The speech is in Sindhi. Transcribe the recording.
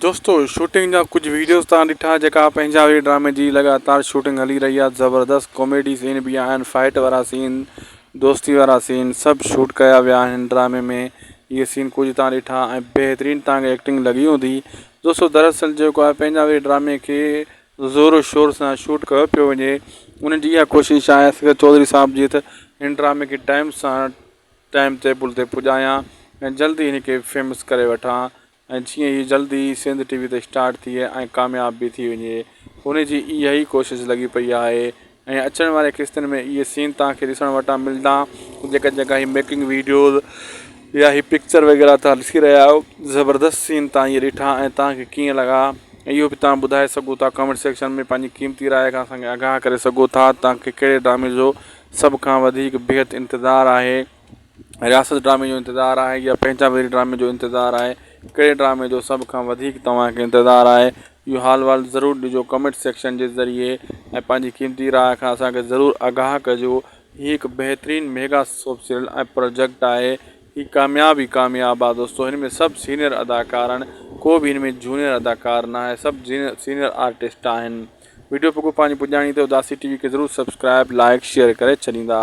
دوستو شوٽنگ جا کجھ ويڊيوز تان ڏٺا جيڪا پنهنجا وي ڊرامي جي لڳاتار شوٽنگ هلي رهي آهي زبردست ڪاميڊي سين به آهن فائٽ وارا سين دوستي وارا سين سڀ شوٽ ڪيا ويا آهن ڊرامي ۾ اهي سين ڪجهه تان ڏٺا ۽ بهترين تان کي ايڪٽنگ لڳي هوندي دوستو دراصل جيڪو آهي پنهنجا ويهه ڊرامي کي زور و شور سان شوٽ ڪيو پيو وڃي انهن جي اها ڪوشش آهي اصغر چوڌري صاحب جي ته هن ڊرامي کي ٽائيم سان ٽائيم ٽيبل تي پڄايان ۽ جلدي هن کي فيمس ڪري وٺان ۽ جيئن هي جلد ئي سنڌ ٽي وي تي اسٽارٽ ٿئي ۽ ڪامياب به ٿي وڃي هن جي اها ئي ڪوشش لڳي پئي آهي ۽ اچڻ واري قسطن ۾ اهي سين توهان کي ڏسڻ وٽان ملدا جيڪا جيڪا هي ميڪنگ ويڊيوز يا هي پڪچر وغيره توهان ڏسي رهيا آهيو زبردست سين توهان اهي ڏٺا ۽ توهان کي ڪيئن لڳا اهو به توهان ٻڌائي سگهو ٿا ڪامينٽ سيڪشن ۾ پنهنجي قيمتي راء کان اسان کي آگاهه ڪري سگهو ٿا توهان کي ڪهڙي ڊرامي جو سڀ کان وڌيڪ بيحد انتظار آهي. رياست ڊرامي جو انتظار آهي يا پنهنجا وير ڊرامي جو انتظار آهي ڪهڙي ڊرامي جو سڀ کان وڌيڪ توهان کي انتظار آهي اهو حال وال ضرور ڏجو ڪمينٽ سيڪشن جي ذريعي ۽ پنهنجي قيمتي راء کان اسانکي ضرور آگاهه ڪجو هي هڪ بهترين ميگا سوپ سيريل ۽ پروجيڪٽ آهي هي ڪامياب ئي ڪامياب آهي دوستو هن ۾ سڀ سينئر اداڪار آهن ڪو به هن ۾ جونئر اداڪار نه آهي سڀ سينئر آرٽسٽ آهن ويڊيو پڳو پنهنجي پڄاڻي تي اداسي ٽي وي کي ضرور سبسڪرائب لائڪ شيئر ڪري ڇڏيندا